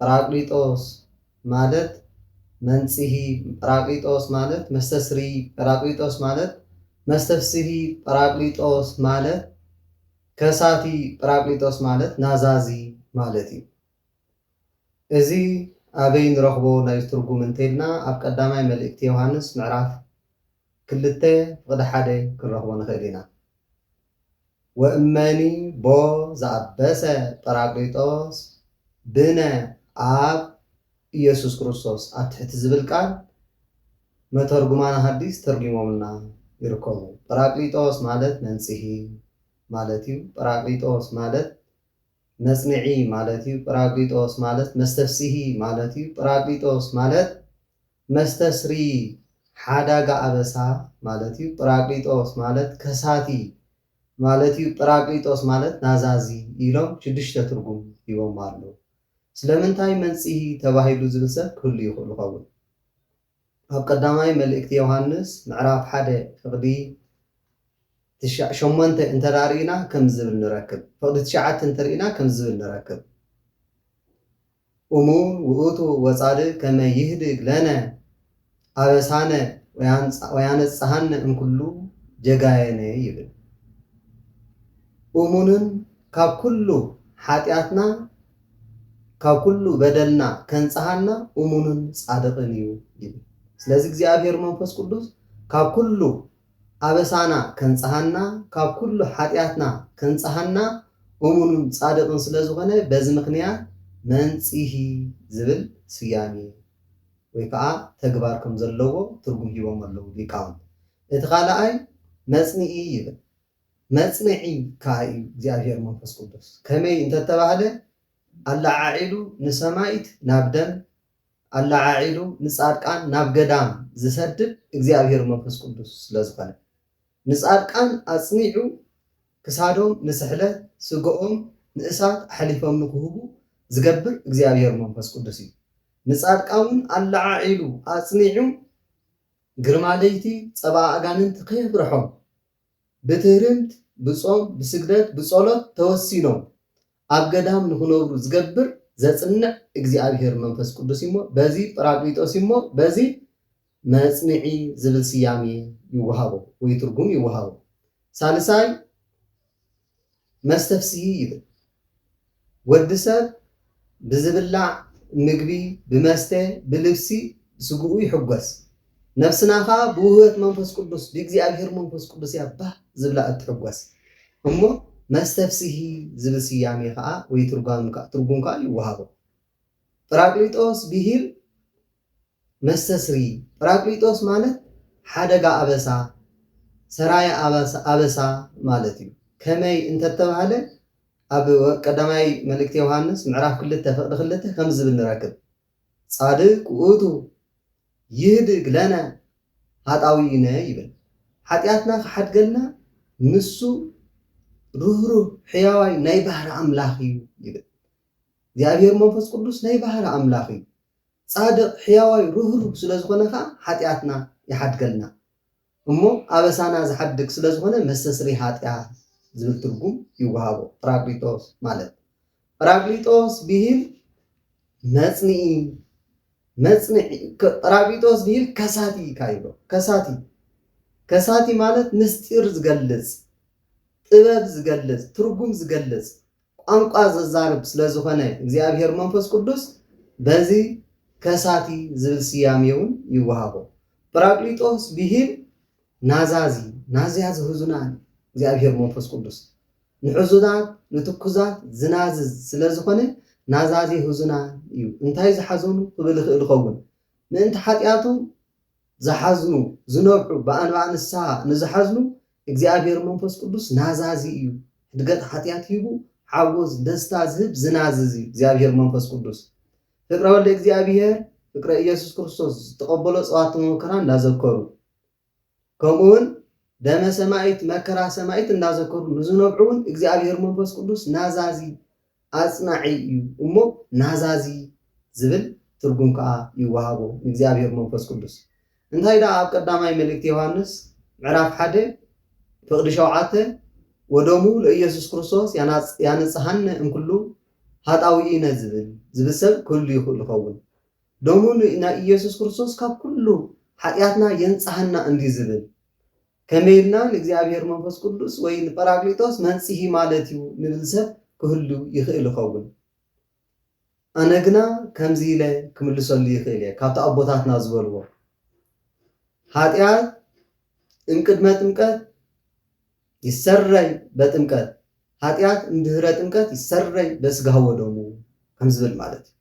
ጰራቅሊጦስ ማለት መንጽሂ ጰራቅሊጦስ ማለት መስተስርዪ ጰራቅሊጦስ ማለት መስተፍስሂ ጰራቅሊጦስ ማለት ከሳቲ ጰራቅሊጦስ ማለት ናዛዚ ማለት እዩ። እዚ ኣበይ ንረኽቦ ናይ ትርጉም እንተይልና ኣብ ቀዳማይ መልእክቲ ዮሃንስ ምዕራፍ። ክልተ ፍቕዲ ሓደ ክንረኽቦ ንኽእል ኢና። ወእመኒ ቦ ዘኣበሰ ጰራቅሊጦስ ብነ ኣብ ኢየሱስ ክርስቶስ ኣብ ትሕቲ ዝብል ቃል መተርጉማነ ሃዲስ ተርጒሞምልና ይርከቡ። ጰራቅሊጦስ ማለት መንጽሂ ማለት እዩ። ጰራቅሊጦስ ማለት መጽንዒ ማለት እዩ። ጰራቅሊጦስ ማለት መስተፍስሂ ማለት እዩ። ጰራቅሊጦስ ማለት መስተስሪ ሓዳጋ ኣበሳ ማለት እዩ። ጵራቅሊጦስ ማለት ከሳቲ ማለት እዩ። ጵራቅሊጦስ ማለት ናዛዚ ኢሎም ሽዱሽተ ትርጉም ሂቦሞ ኣለዉ። ስለምንታይ መንጽሂ ተባሂሉ ዝብል ሰብ ክህሉ ይኽእሉ ይኸውን። ኣብ ቀዳማይ መልእክቲ ዮሃንስ ምዕራፍ ሓደ ፍቕዲ ትሻ ሸሞንተ እንተ ርኢና ከምዚ ዝብል ንረክብ። ፍቕዲ ትሽዓተ እንተ ርኢና ከምዚ ዝብል ንረክብ። እሙ ውእቱ ወጻድ ከመ ይህድግ ለነ ኣበሳነ ወያነጽሃነ እምኩሉ ጀጋየነ ይብል። እሙንን ካብ ኩሉ ሓጢኣትና ካብ ኩሉ በደልና ከንጽሃና እሙንን ጻድቕን እዩ ይብል። ስለዚ እግዚኣብሔር መንፈስ ቅዱስ ካብ ኩሉ ኣበሳና ከንጽሃና ካብ ኩሉ ሓጢኣትና ከንጽሃና እሙኑን ጻድቕን ስለ ዝኾነ በዚ ምኽንያት መንጽሂ ዝብል ስያሜ ወይ ከኣ ተግባር ከም ዘለዎ ትርጉም ሂቦሞ ኣለዉ ሊቃውንቲ። እቲ ካልኣይ መጽንኢ ይብል። መጽንዒ ከኣ እዩ እግዚኣብሔር መንፈስ ቅዱስ። ከመይ እንተተባህለ ኣለዓዒሉ ንሰማይት ናብ ደም ኣለዓዒሉ ንጻድቃን ናብ ገዳም ዝሰድድ እግዚኣብሔር መንፈስ ቅዱስ ስለ ዝኾነ ንጻድቃን ኣጽኒዑ ክሳዶም ንስሕለት ስግኦም ንእሳት ኣሕሊፎም ንክህቡ ዝገብር እግዚኣብሔር መንፈስ ቅዱስ እዩ ንጻድቃውን ኣለዓዒሉ ኣጽኒዑ ግርማ ለይቲ ጸባ ኣጋንንት ከየፍርሖም ብትህርምት ብጾም ብስግደት ብጸሎት ተወሲኖም ኣብ ገዳም ንኽነብሩ ዝገብር ዘጽንዕ እግዚኣብሔር መንፈስ ቅዱስ እዩሞ በዚ ጵራቅሊጦስ እዩሞ በዚ መጽንዒ ዝብል ስያሜ ይወሃቦ ወይ ትርጉም ይወሃቦ። ሳልሳይ መስተፍስሂ ይብል። ወዲ ሰብ ብዝብላዕ ምግቢ፣ ብመስተ፣ ብልብሲ ስግኡ ይሕጎስ። ነፍስና ከኣ ብውህበት መንፈስ ቅዱስ ብእግዚኣብሄር መንፈስ ቅዱስ እያ ባህ ዝብላ እትሕጐስ እሞ መስተፍስሂ ዝብል ስያሜ ከኣ ወይ ትርጓም ከኣ ትርጉም ከኣ ይወሃቦ። ጰራቅሊጦስ ብሂል መስተስሪ ጰራቅሊጦስ ማለት ሓደጋ ኣበሳ ሰራየ ኣበሳ ማለት እዩ። ከመይ እንተተባህለ ኣብ ቀዳማይ መልእክተ ዮሃንስ ምዕራፍ ክልተ ፍቅዲ ክልተ ከምዚ ዝብል ንረክብ። ጻድቅ ውእቱ ይህድግ ለነ ኃጣውኢነ ይብል። ኃጢኣትና ክሓድገልና ንሱ ርህሩህ ሕያዋይ ናይ ባህሪ ኣምላኽ እዩ ይብል። እግዚኣብሔር መንፈስ ቅዱስ ናይ ባህሪ ኣምላኽ እዩ። ጻድቅ ሕያዋይ ርህሩህ ስለ ዝኾነ ከኣ ኃጢኣትና ይሓድገልና። እሞ ኣበሳና ዝሓድግ ስለ ዝኾነ መስተስርይ ኃጢኣት ዝብል ትርጉም ይወሃቦ፣ ጰራቅሊጦስ ማለት። ጰራቅሊጦስ ብሂል መጽንኢ፣ መጽንዒ፣ ጰራቅሊጦስ ብሂል ከሳቲ ኢካ ይብሎ፣ ከሳቲ፣ ከሳቲ ማለት ምስጢር ዝገልጽ፣ ጥበብ ዝገልጽ፣ ትርጉም ዝገልጽ፣ ቋንቋ ዘዛርብ ስለ ዝኾነ እግዚኣብሔር መንፈስ ቅዱስ በዚ ከሳቲ ዝብል ስያሜውን ይወሃቦ። ጵራቅሊጦስ ብሂል ናዛዚ፣ ናዝያ ዘሕዙናን እግዚኣብሔር መንፈስ ቅዱስ ንሕዙናት ንትኩዛት ዝናዝዝ ስለ ዝኾነ ናዛዚ ሕዙናን እዩ። እንታይ ዝሓዘኑ ክብል ይኽእል ይኸውን ምእንቲ ሓጢኣቶም ዝሓዝኑ ዝነብዑ ብኣንባኣ ንስሓ ንዝሓዝኑ እግዚኣብሔር መንፈስ ቅዱስ ናዛዚ እዩ ህድገት ሓጥያት ሂቡ ሓጎስ ደስታ ዝህብ ዝናዝዝ እዩ እግዚኣብሔር መንፈስ ቅዱስ ፍቅረ ወልደ እግዚኣብሔር ፍቅረ ኢየሱስ ክርስቶስ ዝተቀበሎ ጸዋት መከራ እንዳዘከሩ ከምኡውን ደመ ሰማይት መከራ ሰማይት እንዳዘከሩ ንዝነብዑ እውን እግዚኣብሔር መንፈስ ቅዱስ ናዛዚ ኣጽናዒ እዩ እሞ ናዛዚ ዝብል ትርጉም ከኣ ይወሃቦ ንእግዚኣብሄር መንፈስ ቅዱስ። እንታይ ደኣ ኣብ ቀዳማይ መልእክቲ ዮሃንስ ምዕራፍ ሓደ ፍቕዲ ሸውዓተ ወደሙ ለኢየሱስ ክርስቶስ ያነጽሃነ እምኩሉ ኃጣውኢነ ዝብል ዝብል ሰብ ክህሉ ይኽእል ይኸውን። ደሙ ናይ ኢየሱስ ክርስቶስ ካብ ኩሉ ኃጢኣትና የንጽሃና እንድዩ ዝብል። ከመይ ኢልና ንእግዚኣብሔር መንፈስ ቅዱስ ወይ ንጰራቅሊጦስ መንጽሂ ማለት እዩ ንብል ሰብ ክህሉ ይኽእል ይኸውን። ኣነ ግና ከምዚ ኢለ ክምልሰሉ ይኽእል እየ ካብቲ ኣቦታትና ዝበልዎ ኃጢኣት እምቅድመ ጥምቀት ይሰረይ በጥምቀት ኃጢኣት እምድህረ ጥምቀት ይሰረይ በስጋሁ ወደሙ ከም ዝብል ማለት እዩ።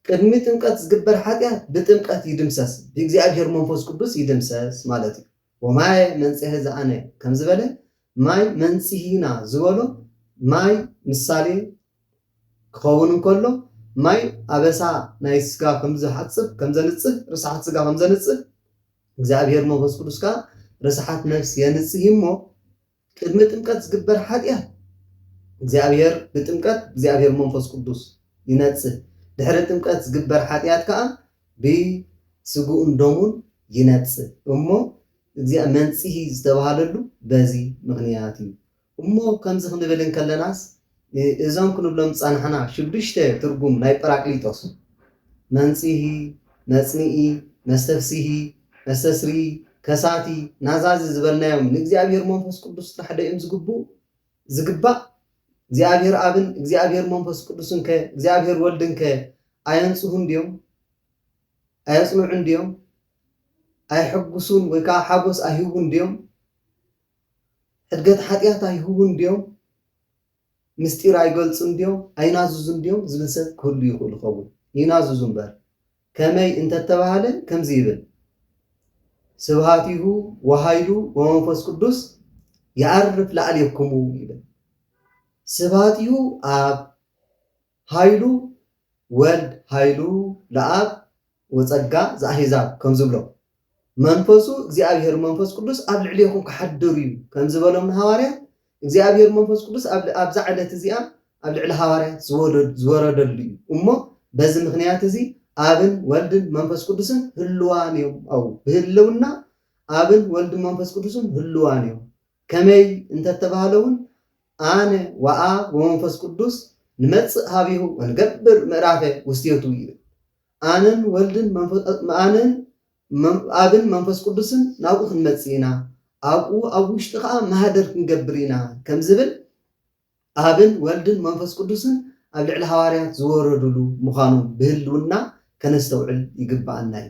ቅድሚ ጥምቀት ዝግበር ኃጢኣት ብጥምቀት ይድምሰስ ብእግዚኣብሔር መንፈስ ቅዱስ ይድምሰስ ማለት እዩ። ወማየ መንጽሔ ዘኣነ ከም ዝበለ፣ ማይ መንጽሂና ዝበሎ ማይ ምሳሌ ክኸውን እንከሎ፣ ማይ ኣበሳ ናይ ስጋ ከም ዝሓጽብ፣ ከም ዘንጽህ፣ ርስሓት ስጋ ከም ዘንጽህ፣ እግዚኣብሔር መንፈስ ቅዱስ ከኣ ርስሓት ነፍስ የንጽሂ እሞ፣ ቅድሚ ጥምቀት ዝግበር ሓጢኣት እግዚኣብሔር ብጥምቀት እግዚኣብሔር መንፈስ ቅዱስ ይነጽህ ድሕሪ ጥምቀት ዝግበር ሓጢኣት ከኣ ብስግኡን ደሙን ይነጽህ እሞ እግዚኣ መንጽሂ ዝተባሃለሉ በዚ ምክንያት እዩ እሞ ከምዚ ክንብል እንከለናስ እዞም ክንብሎም ዝጸናሕና ሽዱሽተ ትርጉም ናይ ጰራቅሊጦስ፣ መንጽሂ፣ መጽንኢ፣ መስተፍስሂ፣ መስተስርዪ፣ ከሳቲ፣ ናዛዚ ዝበልናዮም ንእግዚኣብሔር መንፈስ ቅዱስ ጥራሕ ዶ እዮም ዝግብኡ፣ ዝግባእ? እግዚኣብሔር ኣብን እግዚኣብሔር መንፈስ ቅዱስንከ እግዚኣብሔር ወልድንከ ኣየንጽሁን ድዮም? ኣየጽንዑን ድዮም? ኣይሕጉሱን ወይ ከዓ ሓጎስ ኣይህቡን ድዮም? ሕድገት ሓጢኣት ኣይህቡን ድዮም? ምስጢር ኣይገልጹን ድዮም? ኣይናዝዙን ድዮም? ዝብል ሰብ ክህሉ ይኽእሉ ይኸውን። ይናዝዙ እምበር። ከመይ እንተ ተባህለ ከምዚ ይብል፣ ስብሃቲሁ ወኃይሉ ወመንፈስ ቅዱስ የዐርፍ ላዕሌክሙ ይብል። ስብሃቲሁ ኣብ ሃይሉ ወልድ ሃይሉ ለኣብ ወጸጋ ዘኣሕዛብ ከም ዝብሎ፣ መንፈሱ እግዚኣብሔር መንፈስ ቅዱስ ኣብ ልዕሌኹም ክሓድር እዩ ከም ዝበሎም ንሃዋርያት፣ እግዚኣብሔር መንፈስ ቅዱስ ኣብዛ ዕለት እዚኣ ኣብ ልዕሊ ሃዋርያት ዝወረደሉ እዩ እሞ በዚ ምኽንያት እዚ ኣብን ወልድን መንፈስ ቅዱስን ህልዋን እዮም ኣው ብህልውና ኣብን ወልድን መንፈስ ቅዱስን ህልዋን እዮም ከመይ እንተተባህለውን ኣነ ወኣ ወመንፈስ ቅዱስ ንመጽእ ኀቤሁ ወንገብር ምዕራፈ ውስቴቱ ይብል። ኣነን ወልድን ኣነን ኣብን መንፈስ ቅዱስን ናብኡ ክንመጽእ ኢና፣ ኣብኡ ኣብ ውሽጢ ከኣ ማህደር ክንገብር ኢና ከም ዝብል ኣብን ወልድን መንፈስ ቅዱስን ኣብ ልዕሊ ሃዋርያት ዝወረዱሉ ምዃኖም ብህልውና ከነስተውዕል ይግብኣና እዩ።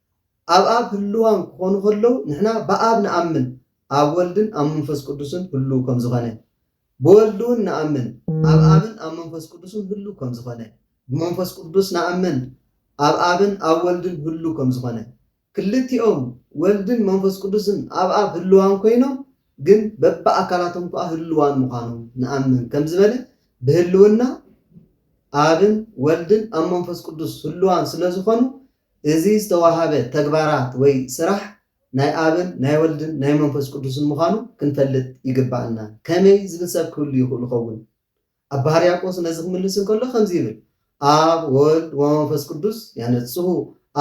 ኣብ ኣብ ህልዋም ክኾኑ ከለዉ ንሕና ብኣብ ንኣምን ኣብ ወልድን ኣብ መንፈስ ቅዱስን ህሉው ከም ዝኾነ ብወልድውን ንኣምን ኣብ ኣብን ኣብ መንፈስ ቅዱስን ህሉው ከም ዝኾነ ብመንፈስ ቅዱስ ንኣምን ኣብ ኣብን ኣብ ወልድን ህሉው ከም ዝኾነ ክልቲኦም ወልድን መንፈስ ቅዱስን ኣብ ኣብ ህልዋም ኮይኖም ግን በብኣካላቶም ከኣ ህልዋን ምዃኖም ንኣምን ከም ዝበለ ብህልውና ኣብን ወልድን ኣብ መንፈስ ቅዱስ ህልዋን ስለ ዝኾኑ እዚ ዝተዋሃበ ተግባራት ወይ ስራሕ ናይ ኣብን ናይ ወልድን ናይ መንፈስ ቅዱስን ምዃኑ ክንፈልጥ ይግብኣና። ከመይ ዝብል ሰብ ክህሉ ይኽእሉ ኸውን? ኣባ ሕርያቆስ ነዚ ክምልስ እንከሎ ከምዚ ይብል፣ ኣብ ወወልድ ወመንፈስ ቅዱስ ያነጽሁ፣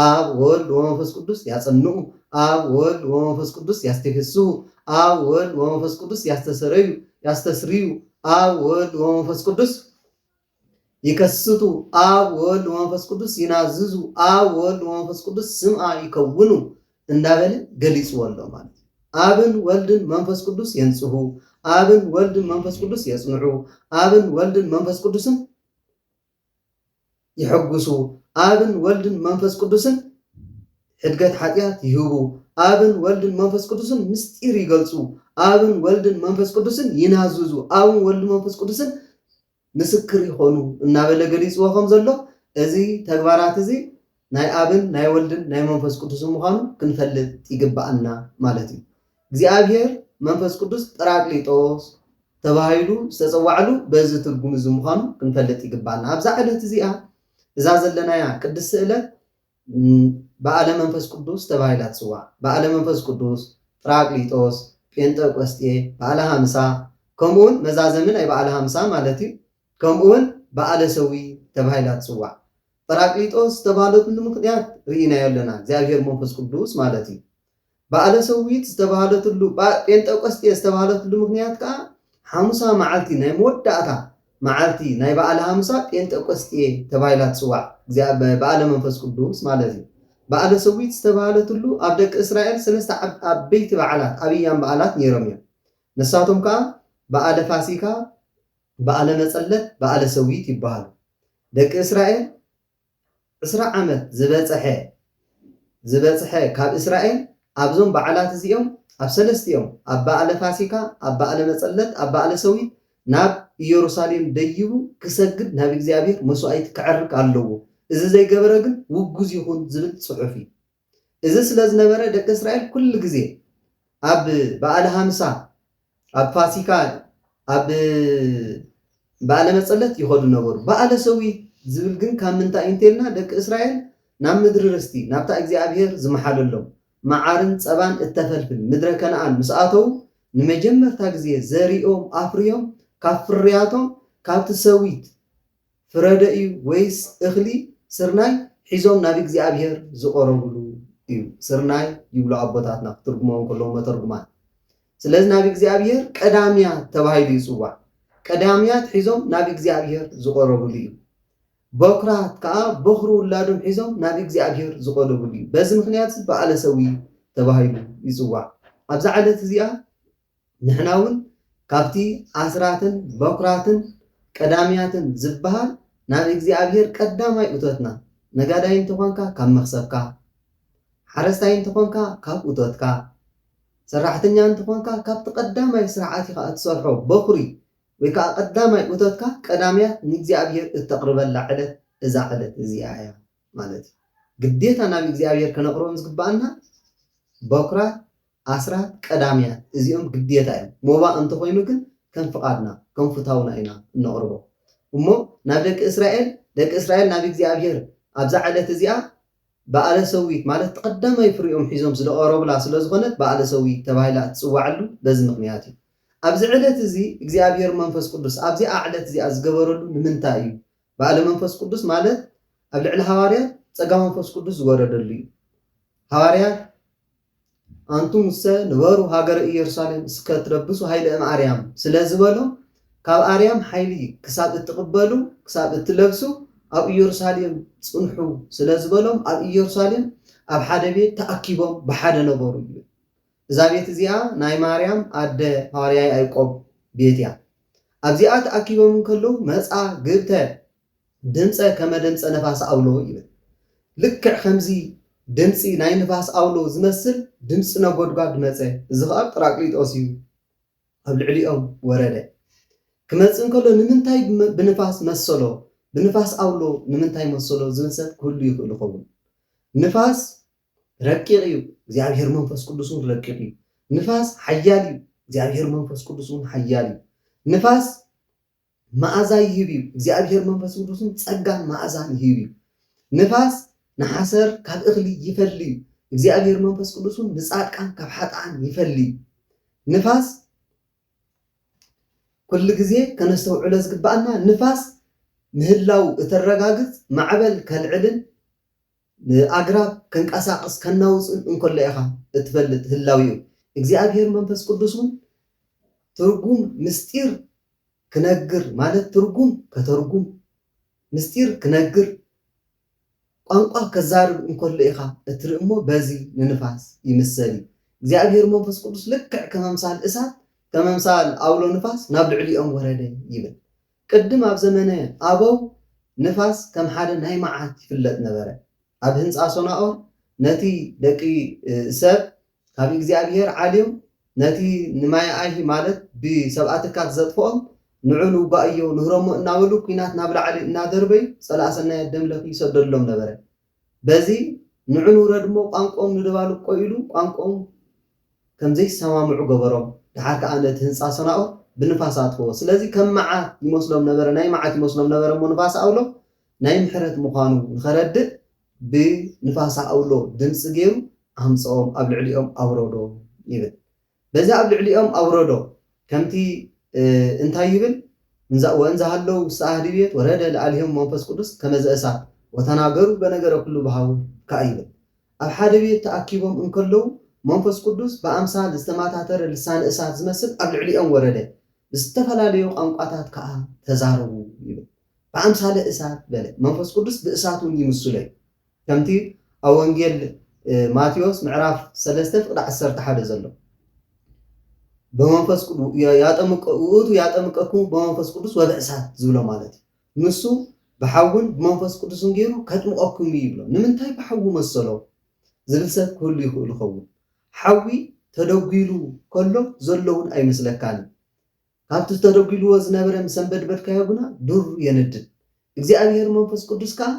ኣብ ወወልድ ወመንፈስ ቅዱስ ያጸንኡ፣ ኣብ ወወልድ ወመንፈስ ቅዱስ ያስቴፌስሁ፣ ኣብ ወወልድ ወመንፈስ ቅዱስ ያስተሰረዩ፣ ያስተስርዩ፣ ኣብ ወወልድ ወመንፈስ ቅዱስ ይከስቱ ኣብ ወወልድ ወመንፈስ ቅዱስ ይናዝዙ ኣብ ወወልድ ወመንፈስ ቅዱስ ስምኣ ይከውኑ እንዳበለ ገሊጽዎ ኣሎ ማለት እዩ። ኣብን ወልድን መንፈስ ቅዱስ የንጽሁ፣ ኣብን ወልድን መንፈስ ቅዱስ የጽንዑ፣ ኣብን ወልድን መንፈስ ቅዱስን ይሕጉሱ፣ ኣብን ወልድን መንፈስ ቅዱስን ሕድገት ሓጢኣት ይህቡ፣ ኣብን ወልድን መንፈስ ቅዱስን ምስጢር ይገልጹ፣ ኣብን ወልድን መንፈስ ቅዱስን ይናዝዙ፣ ኣብን ወልድን መንፈስ ቅዱስን ምስክር ይኾኑ እናበለ ገሊጽዎ ከም ዘሎ እዚ ተግባራት እዚ ናይ ኣብን ናይ ወልድን ናይ መንፈስ ቅዱስን ምዃኑ ክንፈልጥ ይግብኣና ማለት እዩ። እግዚኣብሔር መንፈስ ቅዱስ ጰራቅሊጦስ ተባሂሉ ዝተጸዋዕሉ በዚ ትርጉም እዚ ምዃኑ ክንፈልጥ ይግብኣና። ኣብዛ ዕለት እዚኣ እዛ ዘለናያ ቅድስቲ ዕለት በዓለ መንፈስ ቅዱስ ተባሂላ ትጽዋዕ። በዓለ መንፈስ ቅዱስ፣ ጵራቅሊጦስ፣ ጴንጠቆስጤ፣ በዓለ ሃምሳ፣ ከምኡውን መዛዘሚ ናይ በዓለ ሃምሳ ማለት እዩ፣ ከምኡውን በዓለ ሰዊእ ተባሂላ ትጽዋዕ። ጰራቅሊጦስ ዝተባህለትሉ ምኽንያት ርኢናዮ ኣለና፣ እግዚኣብሔር መንፈስ ቅዱስ ማለት እዩ። በዓለ ሰዊት ዝተባህለትሉ፣ ጴንጠቆስጤ ዝተባህለትሉ ምኽንያት ከኣ ሓሙሳ መዓልቲ ናይ መወዳእታ መዓልቲ ናይ በዓለ ሃምሳ ጴንጠቆስጤ ተባሂላ ትጽዋዕ፣ በዓለ መንፈስ ቅዱስ ማለት እዩ። በዓለ ሰዊት ዝተባህለትሉ ኣብ ደቂ እስራኤል ሰለስተ ዓበይቲ በዓላት፣ ኣብያም በዓላት፣ ነይሮም እዮም። ንሳቶም ከኣ በዓለ ፋሲካ፣ በዓለ መጸለት፣ በዓለ ሰዊት ይበሃሉ። ደቂ እስራኤል ዕስራ ዓመት ዝበጸሐ ዝበጽሐ ካብ እስራኤል ኣብዞም በዓላት እዚኦም ኣብ ሰለስቲኦም ኣብ በኣለ ፋሲካ ኣብ በኣለ መጸለት ኣብ በኣለ ሰዊት ናብ ኢየሩሳሌም ደይቡ ክሰግድ ናብ እግዚኣብሔር መሥዋዕት ከዕርግ ኣለዎ እዚ ዘይገበረ ግን ውጉዝ ይኹን ዝብል ጽሑፍ እዩ። እዚ ስለ ዝነበረ ደቂ እስራኤል ኩሉ ግዜ ኣብ በዓለ ሃምሳ ኣብ ፋሲካ ኣብ በዓለ መጸለት ይኸዱ ነበሩ። በዓለ ሰዊት ዝብል ግን ካብ ምንታይ እዩ እንተልና ደቂ እስራኤል ናብ ምድሪ ርስቲ ናብታ እግዚኣብሄር ዝመሓለሎም መዓርን ጸባን እተፈልፍል ምድረ ከነኣን ምስ ኣተዉ ንመጀመርታ ግዜ ዘሪኦም ኣፍርዮም ካብ ፍርያቶም ካብቲ ሰዊት ፍረ ደዩ ወይስ እኽሊ ስርናይ ሒዞም ናብ እግዚኣብሄር ዝቐረብሉ እዩ ስርናይ ይብሉ ኣቦታትና ክትርጉምዎ ከለዉ መተርጉማን ስለዚ ናብ እግዚኣብሄር ቀዳምያት ተባሂሉ ይጽዋዕ ቀዳምያት ሒዞም ናብ እግዚኣብሄር ዝቐረብሉ እዩ በኩራት ከኣ በኹሪ ውላዶም ሒዞም ናብ እግዚኣብሄር ዝቐረብሉ እዩ በዚ ምክንያት በዓለ ሰዊ ተባሂሉ ይጽዋዕ ኣብዛ ዕለት እዚኣ ንሕና ውን ካብቲ ኣስራትን በኵራትን ቀዳምያትን ዝበሃል ናብ እግዚኣብሄር ቀዳማይ እቶትና፣ ነጋዳይ እንተ ዀንካ ካብ መኽሰብካ፣ ሓረስታይ እንተ ዀንካ ካብ እቶትካ፣ ሰራሕተኛ እንተ ዀንካ ካብቲ ቀዳማይ ስራሕ ኣቲኻ እትሰርሖ በዅሪ ወይ ከኣ ቀዳማይ እቶትካ ቀዳምያት ንእግዚኣብሄር እተቕርበላ ዕለት እዛ ዕለት እዚኣ እያ ማለት እዩ። ግዴታ ናብ እግዚኣብሄር ከነቕርቦም ዝግብኣና በኵራት ኣስራት ቀዳምያት እዚኦም ግዴታ እዮም ሞባእ እንተኾይኑ ግን ከም ፍቓድና ከም ፉታውና ኢና እነቕርቦ እሞ ናብ ደቂ እስራኤል ደቂ እስራኤል ናብ እግዚኣብሄር ኣብዛ ዕለት እዚኣ በኣለ ሰዊት ማለት እቲ ቀዳማይ ፍሪኦም ሒዞም ዝደቐረቡላ ስለ ዝኾነት በኣለ ሰዊት ተባሂላ እትጽዋዕሉ በዚ ምኽንያት እዩ ኣብዚ ዕለት እዚ እግዚኣብሄር መንፈስ ቅዱስ ኣብዚኣ ዕለት እዚኣ ዝገበረሉ ንምንታይ እዩ በኣለ መንፈስ ቅዱስ ማለት ኣብ ልዕሊ ሃዋርያት ጸጋ መንፈስ ቅዱስ ዝወረደሉ እዩ ሃዋርያት ኣንቱምሰ ንበሩ ሃገረ ኢየሩሳሌም እስከ ትለብሱ ኃይለ እምኣርያም ስለ ዝበሎ ካብ ኣርያም ኃይሊ ክሳብ እትቕበሉ ክሳብ እትለብሱ ኣብ ኢየሩሳሌም ጽንሑ ስለ ዝበሎም ኣብ ኢየሩሳሌም ኣብ ሓደ ቤት ተኣኪቦም ብሓደ ነበሩ ይብል እዛ ቤት እዚኣ ናይ ማርያም ኣደ ሃዋርያ ያዕቆብ ቤት እያ ኣብዚኣ ተኣኪቦም እንከለዉ መጻ ግብተ ድምጸ ከመ ድምጸ ነፋስ ኣውሎ ይብል። ልክዕ ከምዚ ድምጺ ናይ ንፋስ ኣውሎ ዝመስል ድምጺ ነጎድጓድ መጸ፣ እዚ ኸኣ ጵራቅሊጦስ እዩ፣ ኣብ ልዕሊኦም ወረደ። ክመጽእ እንከሎ ንምንታይ ብንፋስ መሰሎ፣ ብንፋስ ኣውሎ ንምንታይ መሰሎ ዝብል ሰብ ክህሉ ይኽእል ይኸውን። ንፋስ ረቂቕ እዩ፣ እግዚኣብሔር መንፈስ ቅዱስ እውን ረቂቕ እዩ። ንፋስ ሓያል እዩ፣ እግዚኣብሔር መንፈስ ቅዱስ እውን ሓያል እዩ። ንፋስ መኣዛ ይህብ እዩ። እግዚኣብሄር መንፈስ ቅዱስን ጸጋን መኣዛን ይህብ እዩ። ንፋስ ንሓሰር ካብ እኽሊ ይፈሊ እዩ። እግዚኣብሄር መንፈስ ቅዱስን ንጻድቃን ካብ ሓጥኣን ይፈሊ እዩ። ንፋስ ኩሉ ግዜ ከነስተውዕሎ ዝግባኣና ንፋስ ምህላው እተረጋግጽ ማዕበል ከልዕልን ንኣግራብ ከንቀሳቕስ ከናውጽን እንከሎ ኢኻ እትፈልጥ ህላዌኡ። እግዚኣብሔር መንፈስ ቅዱስ እውን ትርጉም ምሥጢር ክነግር ማለት ትርጉም ከተርጉም፣ ምሥጢር ክነግር፣ ቋንቋ ከዛርብ እንከሎ ኢኻ እትርኢ እሞ በዚ ንንፋስ ይምሰል እዩ። እግዚኣብሔር መንፈስ ቅዱስ ልክዕ ከም ኣምሳል እሳት ከም ኣምሳል ኣውሎ ንፋስ ናብ ልዕሊኦም ወረደ ይብል። ቅድም ኣብ ዘመነ ኣበው ንፋስ ከም ሓደ ናይ መዓት ይፍለጥ ነበረ። ኣብ ህንጻ ሶናኦር ነቲ ደቂ ሰብ ካብ እግዚኣብሄር ዓልዮም ነቲ ንማያኣይሂ ማለት ብሰብኣትካት ዘጥፍኦም ንዑ ንውጋእዮ ንህረሞ እናበሉ ኩናት ናብ ላዕሊ እናደርበዩ ጸላእ ሰናያት ደምለኪ ይሰደሉሎም ነበረ። በዚ ንዑን ውረድ እሞ ቋንቁኦም ንደባልቆ ኢሉ ቋንቁኦም ከም ዘይሰማምዑ ገበሮም ደሓር ከኣ ነቲ ህንጻ ሰናኦር ብንፋስ ኣጥፈዎ ስለዚ ከም መዓት ይመስሎም ነበረ ናይ መዓት ይመስሎም ነበረ እሞ ንፋስ ኣውሎ ናይ ምሕረት ምዃኑ ንኸረድእ ብንፋስ ኣውሎ ድምጺ ገይሩ ኣምጸኦም ኣብ ልዕሊኦም ኣውረዶም ይብል በዚ ኣብ ልዕሊኦም ኣውረዶ፣ ከምቲ እንታይ ይብል፣ ወእንዘ ሀለው ውስተ አሐዲ ቤት ወረደ ለአልሔሙ መንፈስ ቅዱስ ከመ ዘእሳት ወተናገሩ በነገረ ኩሉ በኀው ከኣ ይብል፣ ኣብ ሓደ ቤት ተኣኪቦም እንከለዉ መንፈስ ቅዱስ ብኣምሳል ዝተማታተረ ልሳነ እሳት ዝመስል ኣብ ልዕሊኦም ወረደ፣ ብዝተፈላለዩ ቋንቋታት ከኣ ተዛረቡ ይብል። በኣምሳለ እሳት በለ፣ መንፈስ ቅዱስ ብእሳት እውን ይምስሎ እዩ። ከምቲ ኣብ ወንጌል ማቴዎስ ምዕራፍ ሰለስተ ፍቅዲ ዓሰርተ ሓደ ዘሎ ብመንፈስ ቅዱስ ያጠምቀ ውእቱ ያጠምቀኩም ብመንፈስ ቅዱስ ወብእሳት ዝብሎ ማለት እዩ ንሱ ብሓውን ብመንፈስ ቅዱስን ገይሩ ከጥምቐኩም እዩ ይብሎ ንምንታይ ብሓዊ መሰሎ ዝብል ሰብ ክህሉ ይኽእል ይኸውን ሓዊ ተደጒሉ ከሎ ዘለውን ኣይመስለካን ካብቲ ተደጒልዎ ዝነበረ ምስ ኣንበድበድካዮ ግና ዱር የነድድ። እግዚኣብሄር መንፈስ ቅዱስ ከኣ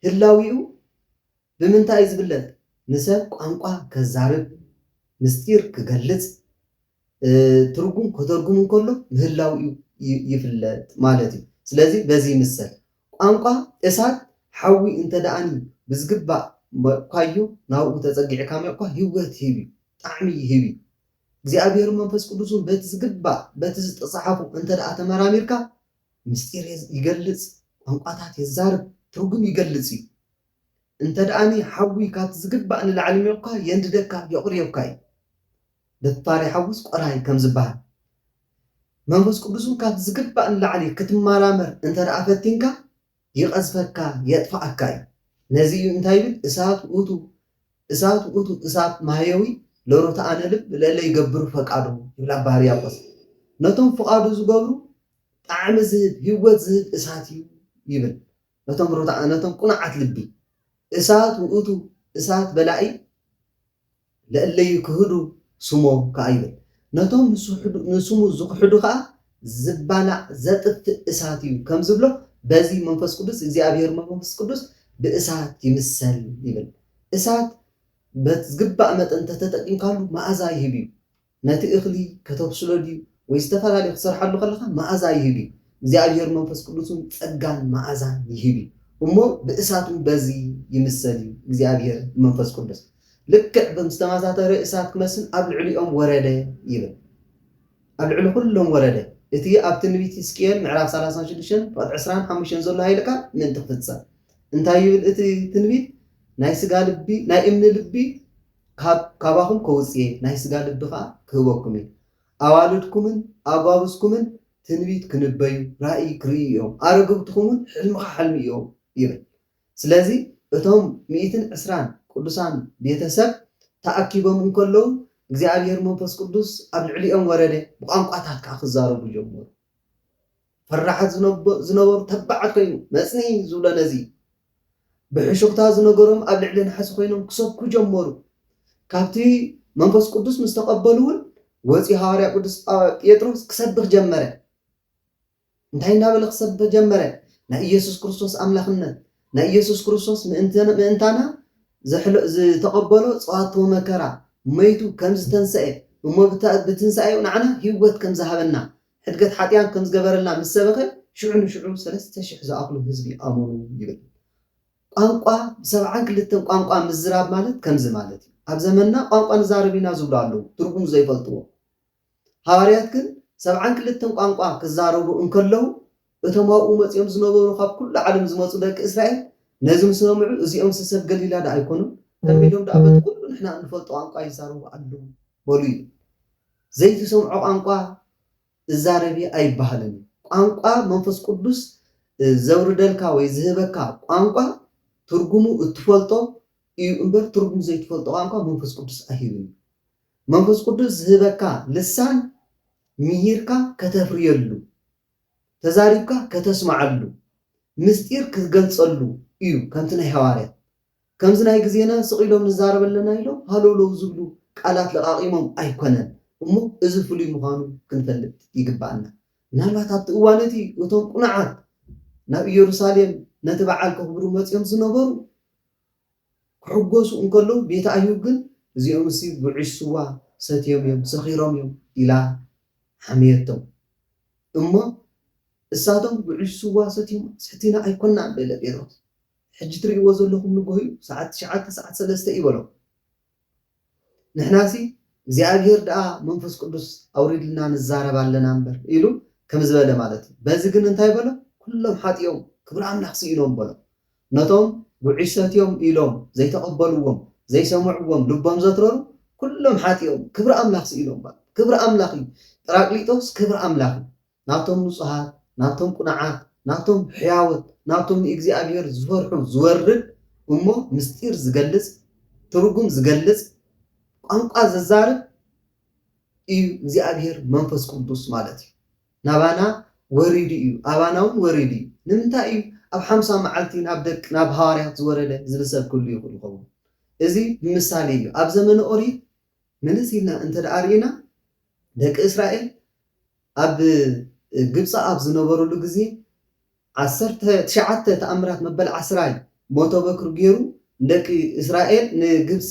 ህላዌኡ ብምንታይ እዩ ዝግለጽ? ንሰብ ቋንቋ ከዛርብ፣ ምስጢር ክገልጽ፣ ትርጉም ከተርጉም እንከሎ ምህላዌኡ ይፍለጥ ማለት እዩ። ስለዚ በዚ ይምሰል። ቋንቋ እሳት ሓዊ እንተደኣኒ ብዝግባእ ሞቕካዮ ናብኡ ተጸጊዕካ ሞቕካ ህይወት ይህብ እዩ፣ ጣዕሚ ይህብ እዩ። እግዚኣብሔርን መንፈስ ቅዱስን በቲ ዝግባእ በቲ ዝተፀሓፉ እንተደኣ ተመራሚርካ ምስጢር ይገልፅ፣ ቋንቋታት የዛርብ፣ ትርጉም ይገልፅ እዩ። እንተደኣኒ ሓዊ ካብቲ ዝግባእ ንላዕሊ ሚቑካ የንድደካ የቑርዮካ እዩ። ደፋር ይሓውስ ቆራይ ከም ዝበሃል መንፈስ ቅዱስን ካብቲ ዝግባእ ንላዕሊ ክትመራመር እንተደኣ ፈቲንካ ይቐዝፈካ የጥፍኣካ እዩ ነዚ እዩ እንታይ ይብል እሳት ውእቱ እሳት ውእቱ እሳት ማህየዊ ለሮተኣነ ልብ ለእለ ይገብሩ ፈቃዱ ይብል ኣባ ሕርያቆስ ነቶም ፍቓዱ ዝገብሩ ጣዕሚ ዝህብ ህይወት ዝህብ እሳት እዩ ይብል ነቶም ሮተኣ ነቶም ቁኑዓት ልቢ እሳት ውእቱ እሳት በላኢ ለእለዩ ክህዱ ስሞ ከኣ ይብል። ነቶም ንስሙ ዝኽሕዱ ከኣ ዝባላዕ ዘጥፍእ እሳት እዩ ከም ዝብሎ በዚ መንፈስ ቅዱስ እግዚኣብሔር መንፈስ ቅዱስ ብእሳት ይምሰል ይብል። እሳት በቲ ዝግባእ መጠን እንተተጠቂምካሉ መኣዛ ይህብ እዩ። ነቲ እኽሊ ከተብስሎ ድዩ ወይ ዝተፈላለዩ ክትሰርሓሉ ከለኻ መኣዛ ይህብ እዩ እግዚኣብሄር መንፈስ ቅዱስ እውን ጸጋን መኣዛን ይህብ እዩ እሞ ብእሳት እውን በዚ ይምሰል እዩ እግዚኣብሄር መንፈስ ቅዱስ ልክዕ ብም ዝተማሳተረ እሳት ክመስል ኣብ ልዕሊኦም ወረደ ይብል ኣብ ልዕሊ ኩሎም ወረደ እቲ ኣብ ትንቢት ሕዝቅኤል ምዕራፍ 36 ፍቕድ 25 ዘሎ ሃይለ ቃል ምእንቲ ክፍጸም እንታይ ይብል እቲ ትንቢት ናይ ስጋ ልቢ ናይ እምኒ ልቢ ካብ ካባኹም ከውጽእ'የ፣ ናይ ስጋ ልቢ ኸኣ ክህበኩም'የ። ኣዋልድኩምን ኣጓብዝኩምን ትንቢት ክንበዩ፣ ራእይ ክርእዩ እዮም፣ ኣረግብትኹምውን ሕልሚ ኸሓልሙ እዮም ይብል። ስለዚ እቶም ሚእትን ዕስራን ቅዱሳን ቤተ ሰብ ተኣኪቦም እንከለዉ እግዚኣብሔር መንፈስ ቅዱስ ኣብ ልዕሊኦም ወረደ፣ ብቋንቋታት ከኣ ክዛረቡ ጀመሩ። ፈራሓት ዝነበሩ ተባዓት ኮይኑ መጽንኢ ዝብሎ ነዚ ብሕሹኽታ ዝነገሮም ኣብ ልዕሊ ናሕሲ ኮይኖም ክሰብኩ ጀመሩ ካብቲ መንፈስ ቅዱስ ምስ ተቐበሉ እውን ወጺኡ ሃዋርያ ቅዱስ ጴጥሮስ ክሰብኽ ጀመረ እንታይ እናበለ ክሰብኽ ጀመረ ናይ ኢየሱስ ክርስቶስ ኣምላኽነት ናይ ኢየሱስ ክርስቶስ ምእንታና ዝተቐበሎ ጸዋትወ መከራ መይቱ ከም ዝተንስኤ እሞ ብትንሳኤኡ ንዓና ህይወት ከም ዝሃበና ሕድገት ሓጥያን ከም ዝገበረልና ምስ ሰበኸ፣ ሽዑ ንሽዑ ሰለስተ ሽሕ ዝኣኽሉ ህዝቢ ኣመኑ ይብል። ቋንቋ፣ ብሰብዓን ክልተን ቋንቋ ምዝራብ ማለት ከምዚ ማለት እዩ። ኣብ ዘመንና ቋንቋ ንዛረብ ኢና ዝብሉ ኣለዉ፣ ትርጉሙ ዘይፈልጥዎ። ሃዋርያት ግን ሰብዓን ክልተን ቋንቋ ክዛረቡ እንከለዉ እቶም ኣብኡ መጺኦም ዝነበሩ ኻብ ኵሉ ዓለም ዝመጹ ደቂ እስራኤል ነዚ ምስ ሰምዑ፣ እዚኦምሲ ሰብ ገሊላዶ ኣይኰኑን? ከመይ ኢሎም ደኣ በቲ ዅሉ ንሕና እንፈልጦ ቋንቋ ይዛረቡ ኣለዉ? በሉ ይብል። ዘይትሰምዖ ቋንቋ እዛረብ እየ ኣይብሃልን እዩ። ቋንቋ፣ መንፈስ ቅዱስ ዘውርደልካ ወይ ዝህበካ ቋንቋ፣ ትርጕሙ እትፈልጦ እዩ እምበር፣ ትርጕሙ ዘይትፈልጦ ቋንቋ መንፈስ ቅዱስ ኣይህብን እዩ። መንፈስ ቅዱስ ዝህበካ ልሳን ምሂርካ ከተፍርየሉ ተዛሪብካ ከተስማዓሉ ምስጢር ክትገልጸሉ ኢዩ ከምቲ ናይ ሃዋርያት ከምዚ ናይ ግዜና ስቅ ኢሎም ንዛረብ ኣለና ኢሎም ሃለውለው ዝብሉ ቃላት ለቃቂሞም ኣይኮነን እሞ እዚ ፍሉይ ምዃኑ ክንፈልጥ ይግባኣና ምናልባት ኣብቲ እዋን እቲ እቶም ቁኑዓት ናብ ኢየሩሳሌም ነቲ በዓል ከኽብሩ መጺኦም ዝነበሩ ክሕጎሱ እንከለዉ ቤት ኣዩብ ግን እዚኦምሲ ጉዕሽ ስዋ ሰትዮም እዮም ሰኺሮም እዮም ኢላ ሓመየቶም እሞ እሳቶም ጉዕሽ ስዋ ሰትዮም ሰቲና ኣይኮናን በለ ጴጥሮስ ሕጂ ትሪእዎ ዘለኹም ንግሆ እዩ ሰዓት ትሽዓተ ሰዓት ሰለስተ እዩ በሎም ንሕናሲ እግዚኣብሄር ደኣ መንፈስ ቅዱስ ኣውሪድልና ንዛረብ ኣለና እምበር ኢሉ ከምዝበለ ማለት እዩ በዚ ግን እንታይ በሎም ኩሎም ሓጢኦም ክብሪ ኣምላኽ ስኢኖም በሎም ነቶም ጉዕሽ ሰትዮም ኢሎም ዘይተቐበልዎም ዘይሰምዕዎም ልቦም ዘትረሩ ኩሎም ሓጢኦም ክብሪ ኣምላኽ ስኢኖም ክብሪ ኣምላኽ እዩ ጰራቅሊጦስ ክብሪ ኣምላኽ እዩ ናብቶም ንጹሃት፣ ናብቶም ቅኑዓት፣ ናብቶም ሕያዎት፣ ናብቶም ንእግዚኣብሄር ዝፈርሑ ዝወርድ እሞ ምስጢር ዝገልጽ፣ ትርጉም ዝገልጽ፣ ቋንቋ ዘዛርብ እዩ እግዚኣብሄር መንፈስ ቅዱስ ማለት እዩ። ናባና ወሪዱ እዩ ኣባናውን ወሪዱ እዩ። ንምንታይ እዩ ኣብ ሓምሳ መዓልቲ ናብ ደቅ ናብ ሃዋርያት ዝወረደ ዝብል ሰብ ክህሉ ይኽእል ይኸውን። እዚ ብምሳሌ እዩ። ኣብ ዘመነ ኦሪት መለስ ኢልና እንተድኣ ርኢና ደቂ እስራኤል ኣብ ግብፂ ኣብ ዝነበሩሉ ግዜ ዓሰርተ ትሽዓተ ተኣምራት መበል ዓስራይ ሞተ በኩር ገይሩ ንደቂ እስራኤል ንግብፂ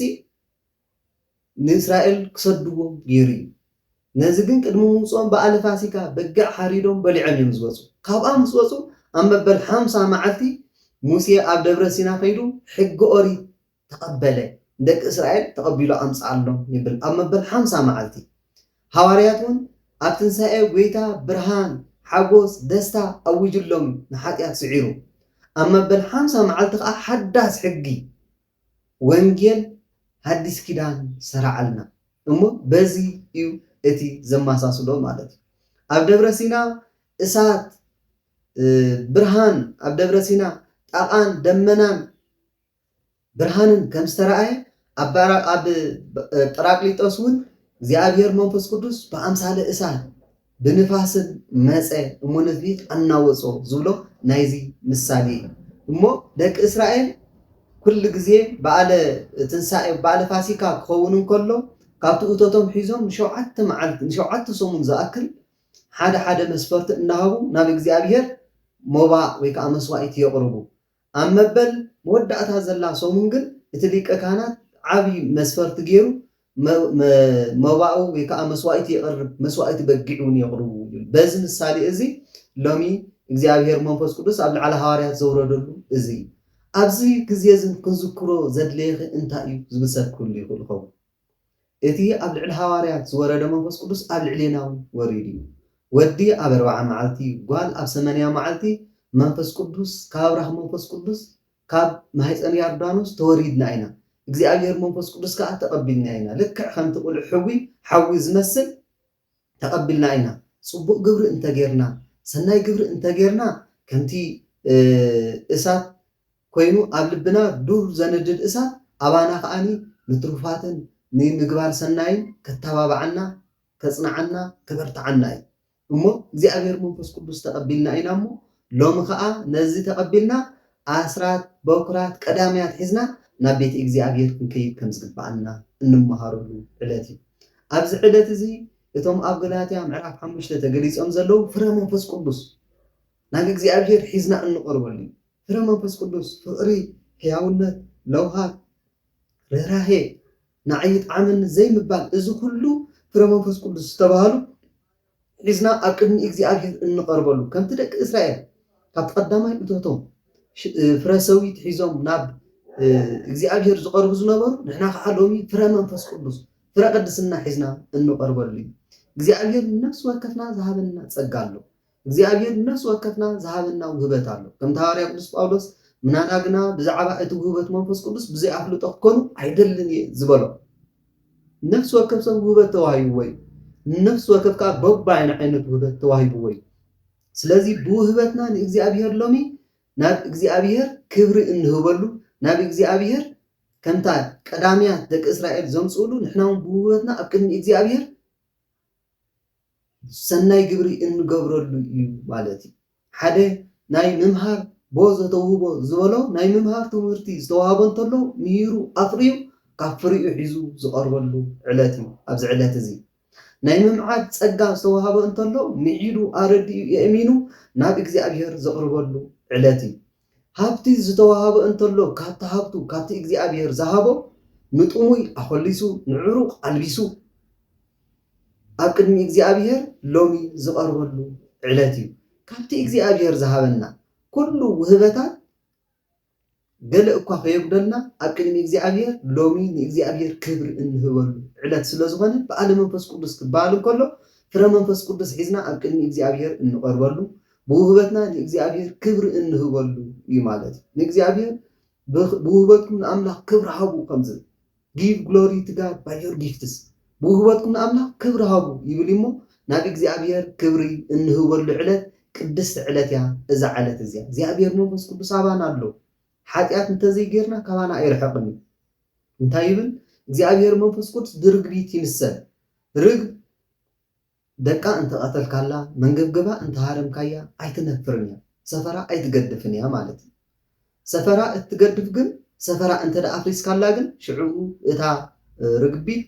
ንእስራኤል ክሰድዎም ገይሩ እዩ። ነዚ ግን ቅድሚ ምውፅኦም በዓለ ፋሲካ በጊዕ ሓሪዶም በሊዖም እዮም ዝወፁ። ካብኣ ምስ ወፁ ኣብ መበል ሓምሳ መዓልቲ ሙሴ ኣብ ደብረ ሲና ከይዱ ሕጊ ኦሪት ተቐበለ፣ ንደቂ እስራኤል ተቐቢሉ ኣምጽኣሎም ይብል ኣብ መበል ሓምሳ መዓልቲ። ሃዋርያት ውን ኣብ ትንሳኤ ጎይታ ብርሃን፣ ሓጎስ፣ ደስታ ኣዊጅሎም ንሓጥያት ስዒሩ። ኣብ መበል ሓምሳ መዓልቲ ከኣ ሓዳስ ሕጊ፣ ወንጌል ሃዲስ ኪዳን ሰራዐልና። እሞ በዚ እዩ እቲ ዘማሳስሎ ማለት እዩ። ኣብ ደብረ ሲና እሳት፣ ብርሃን፣ ኣብ ደብረ ሲና ጣቓን ደመናን፣ ብርሃንን ከም ዝተራእየ፣ ኣብ ጰራቅሊጦስ እውን እግዚኣብሔር መንፈስ ቅዱስ ብኣምሳለ እሳት ብንፋስን መጸ እሞ ንህዝቢ ኣናወጾ ዝብሎ ናይዚ ምሳሌ እዩ። እሞ ደቂ እስራኤል ኩሉ ግዜ በዓለ ትንሣኤ በዓለ ፋሲካ ክኸውን እንከሎ ካብቲ እቶቶም ሒዞም ንሸውዓተ መዓልቲ ንሸውዓተ ሰሙን ዝኣክል ሓደ ሓደ መስፈርቲ እናሃቡ ናብ እግዚኣብሔር ሞባ ወይ ከዓ መስዋዕት የቕርቡ። ኣብ መበል መወዳእታ ዘላ ሰሙን ግን እቲ ሊቀ ካህናት ዓቢ መስፈርቲ ገይሩ መባኡ ወይ ከኣ መስዋኢቲ የቕርብ፣ መስዋኢቲ በጊዕ እውን የቕርቡ ይብል። በዚ ምሳሌ እዚ ሎሚ እግዚኣብሔር መንፈስ ቅዱስ ኣብ ልዕሊ ሃዋርያት ዘውረደሉ እዚ እዩ። ኣብዚ ግዜ እዚ ክንዝክሮ ዘድለየኺ እንታይ እዩ ዝብል ሰብ ክህሉ ይኽእል ይኸውን። እቲ ኣብ ልዕሊ ሃዋርያት ዝወረደ መንፈስ ቅዱስ ኣብ ልዕሌና ውን ወሪዱ እዩ። ወዲ ኣብ ኣርብዓ መዓልቲ ጓል ኣብ ሰመንያ መዓልቲ መንፈስ ቅዱስ ካብ ኣብራኽ መንፈስ ቅዱስ ካብ ማህጸን ያርዳኖስ ተወሪድና ኢና እግዚኣብሄር መንፈስ ቅዱስ ከኣ ተቀቢልና ኢና ልክዕ ከምቲ ቁልዕ ሕዊ ሓዊ ዝመስል ተቐቢልና ኢና። ጽቡቕ ግብሪ እንተ ጌርና፣ ሰናይ ግብሪ እንተ ጌርና፣ ከምቲ እሳት ኮይኑ ኣብ ልብና ዱር ዘንድድ እሳት፣ ኣባና ከኣ ንትሩፋትን ንምግባር ሰናይን ከተባብዓና፣ ከጽንዓና፣ ከበርትዓና እዩ። እሞ እግዚኣብሔር መንፈስ ቅዱስ ተቐቢልና ኢና እሞ፣ ሎሚ ኸኣ ነዚ ተቐቢልና ኣስራት፣ በኵራት፣ ቀዳምያት ሒዝና ናብ ቤት እግዚኣብሔር ክንከይድ ከም ዝግብኣና እንመሃረሉ ዕለት እዩ። ኣብዚ ዕለት እዚ እቶም ኣብ ገላትያ ምዕራፍ ሓሙሽተ ተገሊጾም ዘለዉ ፍረ መንፈስ ቅዱስ ናብ እግዚኣብሔር ሒዝና እንቐርበሉ እዩ። ፍረ መንፈስ ቅዱስ ፍቕሪ፣ ሕያውነት፣ ለውሃት፣ ርህራሄ፣ ናዕይ፣ ጣዕመኒ ዘይምባል እዚ ኩሉ ፍረ መንፈስ ቅዱስ ዝተባህሉ ሒዝና ኣብ ቅድሚ እግዚኣብሄር እንቐርበሉ፣ ከምቲ ደቂ እስራኤል ካብቲ ቀዳማይ እቶቶም ፍረ ሰዊት ሒዞም ናብ እግዚኣብሄር ዝቐርቡ ዝነበሩ፣ ንሕና ከዓ ሎሚ ፍረ መንፈስ ቅዱስ፣ ፍረ ቅድስና ሒዝና እንቐርበሉ እዩ። እግዚኣብሄር ንነፍሲ ወከፍና ዝሃበና ጸጋ ኣሎ። እግዚኣብሄር ንነፍሲ ወከፍና ዝሃበና ውህበት ኣሎ። ከምቲ ሃዋርያ ቅዱስ ጳውሎስ ምናዳ ግና ብዛዕባ እቲ ውህበት መንፈስ ቅዱስ ብዘይ ኣፍልጦ ክትኮኑ ኣይደልን እየ ዝበሎ። ንነፍሲ ወከፍ ሰብ ውህበት ተዋሂብዎ እዩ። ንነፍሲ ወከፍ ከኣ በብይኑ ዓይነት ውህበት ተዋሂብዎ እዩ። ስለዚ ብውህበትና ንእግዚኣብሄር ሎሚ ናብ እግዚኣብሄር ክብሪ እንህበሉ ናብ እግዚኣብሄር ከምታ ቀዳምያት ደቂ እስራኤል ዘምጽእሉ ንሕና ውን ብውህበትና ኣብ ቅድሚ እግዚኣብሄር ሰናይ ግብሪ እንገብረሉ እዩ ማለት እዩ። ሓደ ናይ ምምሃር ቦዘ ተውህቦ ዝበሎ ናይ ምምሃር ትምህርቲ ዝተዋህቦ እንተሎ ምሂሩ ኣፍርዩ ካብ ፍሪኡ ሒዙ ዝቐርበሉ ዕለት እዩ። ኣብዚ ዕለት እዚ ናይ ምምዓድ ጸጋ ዝተዋህበ እንተሎ ምዒዱ ኣረዲኡ የእሚኑ ናብ እግዚኣብሔር ዘቕርበሉ ዕለት እዩ። ሃብቲ ዝተዋሃቦ እንተሎ ካብቲ ሃብቱ ካብቲ እግዚኣብሔር ዝሃቦ ንጥሙይ ኣኾሊሱ ንዕሩቅ ኣልቢሱ ኣብ ቅድሚ እግዚኣብሔር ሎሚ ዝቀርበሉ ዕለት እዩ ካብቲ እግዚኣብሔር ዝሃበና ኩሉ ውህበታት ገለ እኳ ከየጉደልና ኣብ ቅድሚ እግዚኣብሔር ሎሚ ንእግዚኣብሔር ክብሪ እንህበሉ ዕለት ስለዝኾነ በዓለ መንፈስ ቅዱስ ክበሃል እንከሎ ፍረ መንፈስ ቅዱስ ሒዝና ኣብ ቅድሚ እግዚኣብሔር እንቀርበሉ ብውህበትና ንእግዚኣብሄር ክብሪ እንህበሉ እዩ ማለት እዩ። ንእግዚኣብሄር ብውህበትኩም ንኣምላኽ ክብሪ ሃቡ ከም ዝብል ጊቭ ግሎሪ ቱ ጋድ ባይ ዮር ጊፍትስ ብውህበትኩም ንኣምላኽ ክብሪ ሃቡ ይብል እዩ እሞ ናብ እግዚኣብሄር ክብሪ እንህበሉ ዕለት ቅድስቲ ዕለት እያ እዛ ዓለት እዚኣ እግዚኣብሄር መንፈስ ቅዱስ ኣባና ኣሎ ሓጢኣት እንተዘይጌርና ካባና ኣይርሕቕን እዩ እንታይ ይብል እግዚኣብሄር መንፈስ ቅዱስ ብርግቢት ይምሰል ርግብ ደቃ እንተቐተልካላ፣ መንገብገባ እንተሃረምካያ ኣይትነፍርን እያ፣ ሰፈራ ኣይትገድፍን እያ ማለት እዩ። ሰፈራ እትገድፍ ግን ሰፈራ እንተ ኣፍሪስካላ ግን ሽዕኡ እታ ርግቢት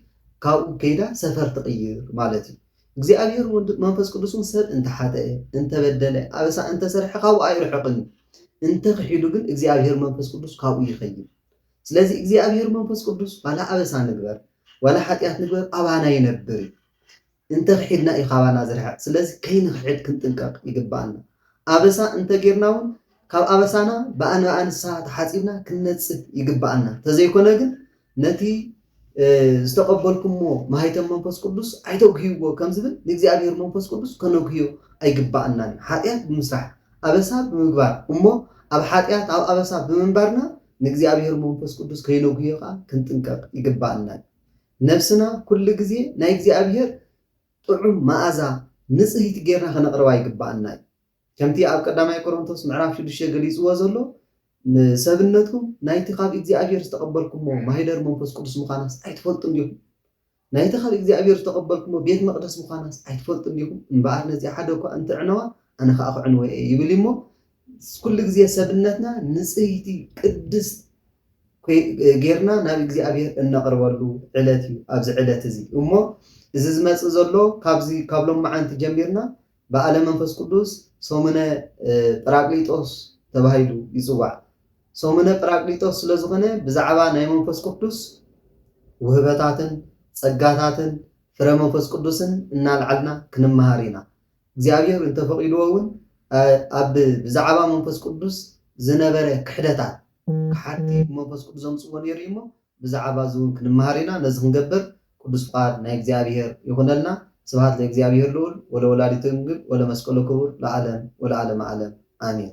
ካብኡ ከይዳ ሰፈር ትቕይር ማለት እዩ። እግዚኣብሔር ወልድ መንፈስ ቅዱስን ሰብ እንተሓጠኤ እንተበደለ ኣበሳ እንተሰርሐ ካብኡ ኣይርሕቕን እዩ። እንተ ክሒዱ ግን እግዚኣብሔር መንፈስ ቅዱስ ካብኡ ይኸይድ። ስለዚ እግዚኣብሔር መንፈስ ቅዱስ ዋላ ኣበሳ ንግበር ዋላ ሓጢኣት ንግበር ኣባና ይነብር እዩ። እንተ ኽሒድና እዩ ካባና ዝርሕቕ። ስለዚ ከይንኽሕድ ክንጥንቀቕ ይግብኣና። ኣበሳ እንተ ጌርና እውን ካብ ኣበሳና ብኣንብኣ ንስሓ ተሓጺብና ክንነጽህ ይግብኣና። እንተዘይኮነ ግን ነቲ ዝተቐበልኩምዎ ማኅተም መንፈስ ቅዱስ ኣይተጉህይዎ ከም ዝብል ንእግዚኣብሔር መንፈስ ቅዱስ ከነጉህዮ ኣይግብኣናን እዩ። ኃጢኣት ብምስራሕ፣ ኣበሳ ብምግባር እሞ ኣብ ኃጢኣት ኣብ ኣበሳ ብምንባርና ንእግዚኣብሔር መንፈስ ቅዱስ ከይነጉህዮ ከኣ ክንጥንቀቕ ይግብኣና እዩ። ነብስና ኩሉ ግዜ ናይ እግዚኣብሔር ጥዑም መኣዛ ንጽህይቲ ጌርና ከነቕርባ ይግብኣና እዩ። ከምቲ ኣብ ቀዳማይ ቆሮንቶስ ምዕራፍ ሽዱሽተ ገሊጽዎ ዘሎ ንሰብነትኩም ናይቲ ካብ እግዚኣብሔር ዝተቐበልኩሞ ማኅደር መንፈስ ቅዱስ ምዃናስ ኣይትፈልጡን ዲኹም? ናይቲ ካብ እግዚኣብሔር ዝተቐበልኩሞ ቤት መቕደስ ምዃናስ ኣይትፈልጡን ዲኹም? እምበኣር ነዚኣ ሓደ እኳ እንተዕነዋ ኣነ ኸኣ ክዕንወ እየ ይብል እዩ እሞ ኩሉ ግዜ ሰብነትና ንጽህቲ ቅድስት ጌርና ናብ እግዚኣብሔር እነቕርበሉ ዕለት እዩ ኣብዚ ዕለት እዚ እሞ እዚ ዝመጽእ ዘሎ ካብዚ ካብ ሎማዓንቲ ጀሚርና በዓለ መንፈስ ቅዱስ ሰሙነ ጰራቅሊጦስ ተባሂሉ ይጽዋዕ ሰሙነ ጰራቅሊጦስ ስለ ዝኾነ ብዛዕባ ናይ መንፈስ ቅዱስ ውህበታትን ጸጋታትን ፍረ መንፈስ ቅዱስን እናልዓልና ክንመሃር ኢና እግዚኣብሔር እንተ ፈቂድዎ እውን ኣብ ብዛዕባ መንፈስ ቅዱስ ዝነበረ ክሕደታት ክሓድቲ ብመንፈስ ቅዱስ ዘምጽዎ ነይሩ እዩ እሞ ብዛዕባ እዚ እውን ክንመሃር ኢና ነዚ ክንገብር ቅዱስ ፍቃድ ናይ እግዚኣብሔር ይኹነልና ስብሃት ለእግዚኣብሔር ልዑል ወለወላዲቱ ድንግል ወለመስቀሉ ክቡር ለዓለም ወለዓለመ ዓለም ኣሜን።